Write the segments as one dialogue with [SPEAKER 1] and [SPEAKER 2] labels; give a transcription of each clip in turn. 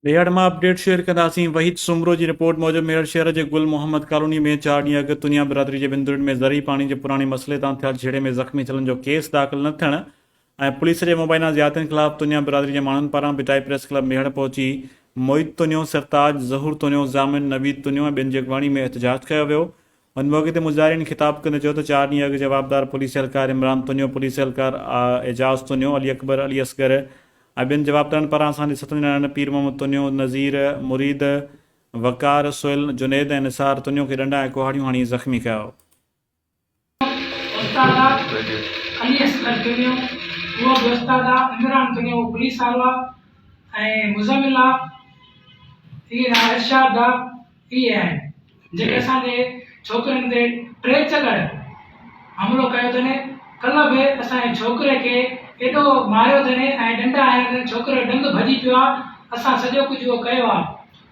[SPEAKER 1] ميهڙ مان update share ڪنداسين وحيد سومرو جي رپورٽ موجب ميهڙ شهر جي گل محمد ڪالوني ۾ چار ڏينهن اڳ تنيا برادري جي وندرڙ ۾ زرعي پاڻي جي پراڻي مسئلي تان ٿيل جهيڙي ۾ زخمي ٿيلن جو ڪيس داخل نه ٿيڻ ۽ پوليس جي مبينا زيادتين خلاف تنيا برادري جي ماڻهن پاران ڀٽائي پريس ڪلب ميهڙ پهچي معيد تنيو، سرتاج، ظهور تنيو، ضامن، نويد تنيو ۽ ٻين جي اڳواڻي ۾ احتجاج ڪيو ويو. ان موقعي تي مظاهرين خطاب ڪندي چيو ته چار ڏينهن اڳ جوابدار پوليس اهلڪار عمران تونيو، پوليس اهلڪار اعجاز تونيو، علي اڪبر، علي اصغر ۽ ٻين جوابدارن پاران اسان جي ستن نياڻين پير محمد تونيو، نذير، مريد، وقار، سهيل، جنيد ۽ نثار تونيو کي ڏنڊا ۽ ڪهاڙيون هڻي زخمي ڪيو. استادا علي اصغر تونيو، هو به
[SPEAKER 2] استادا عمران تونيو، هو پوليس آرو آ ۽ مزمل آ، هي ارشاد آ. اهي آهن جيڪي اسان جي ڇوڪرين تي ٽي چڪر حملو ڪيو اٿن ڪلهه به اسان جي ڇوڪري کي ايڏو ماريو اٿن ۽ ڏنڊا هنيا اٿن ڇوڪري جو ڏند ڀڄي پيو آهي اسان سڄو ڪجهه اهو ڪيو آهي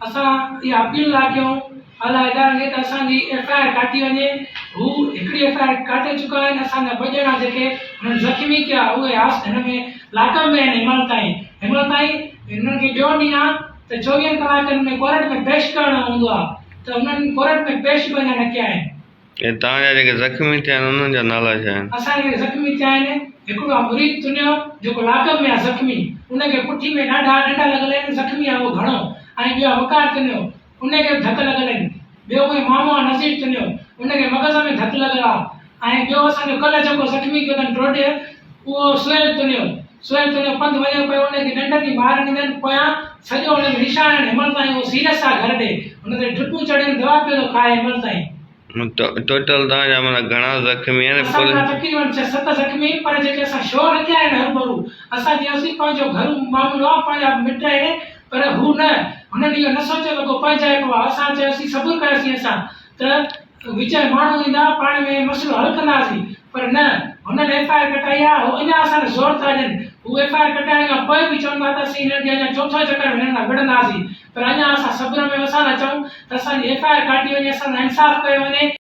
[SPEAKER 2] اسان اها اپيل ٿا ڪيون اعليٰ ادارن کي ته اسان جي ايف آء آر ڪاٽي وڃي هو هڪڙي ايف آء آر ڪاٽي چڪا آهن اسان جا ٻه ڄڻا جيڪي هنن زخمي ڪيا اهي هاس هن ۾ لاڪ اپ ۾ آهن هيمل تائين هيمل تائين هنن کي ٻيو ڏينهن آهي ته چوويهن ڪلاڪن ۾ ڪورٽ ۾ پيش ڪرڻو هوندو آهي ته انهن ڪورٽ ۾ پيش به اڃا نه ڪيا آهن. ۽ توهان جا جيڪي
[SPEAKER 3] زخمي ٿيا آهن انهن جا نالا ڇا آهن؟ اسان جا جيڪي زخمي ٿيا آهن،
[SPEAKER 2] هڪڙو آهي مريد تنيو جيڪو لاڪ اپ ۾ آهي زخمي، ان کي پٺي ۾ ڏاڍا ڏنڊا لڳل آهن زخمي آهي اهو گهڻو ۽ ٻيو آهي وقار تنيو ان کي به ڌڪ لڳل آهن. ٻيو ڪوئي معامو آ نصيب تنھنجو ان کي مغز ۾ ڌڪ لڳل آ ۽ ٻيو اسان جو ڪلھ جيڪو زخمي ڪيو تن ٽوٽي اھو سھيل تنھنجو سھيل تنھنجو پنڌ وڃيو پيو ان کي ننڊ ٿي مار ڏيندين پويان سڄو ان کي نشان آھن ھينمھل تائين اھو سيريس آ گھر ڏي ان تي ڊرپون چڙھين دوا پيو ٿو کائي ھينمھل تائين ٽوٽل
[SPEAKER 3] توھان جا معنيٰ گھڻا زخمي آھن اسان جا تقريبن ڇھ ست
[SPEAKER 2] زخمي پر جيڪي اسان شو رکيا آھن ھرڀرو اسان چيوسين پنھنجو گھرو معاملو آ پنھنجا مٽ اھي پر هو نه، هنن اهو نه سوچيو رڳو پنهنجائپ هئا. اسان چيوسين صبر ڪر اسين سان ته وچ ۾ ماڻهو ايندا، پاڻ ۾ مسئلو حل ڪنداسين. پر نه، هنن ايف آء آر ڪٽائي آ، هو اڃا اسان تي زور ٿا ڏين. هو ايف آء آر ڪٽائڻ کان پوء به چون ٿا ته اسين هنن کي اڃا چوٿون چڪر به هنن سان وڙهنداسين. پر اڃا اسان صبر ۾ وسان ٿا چئون ته اسان جي ايف آء آر ڪاٽي وڃي، اسان سان انصاف ڪيو وڃي.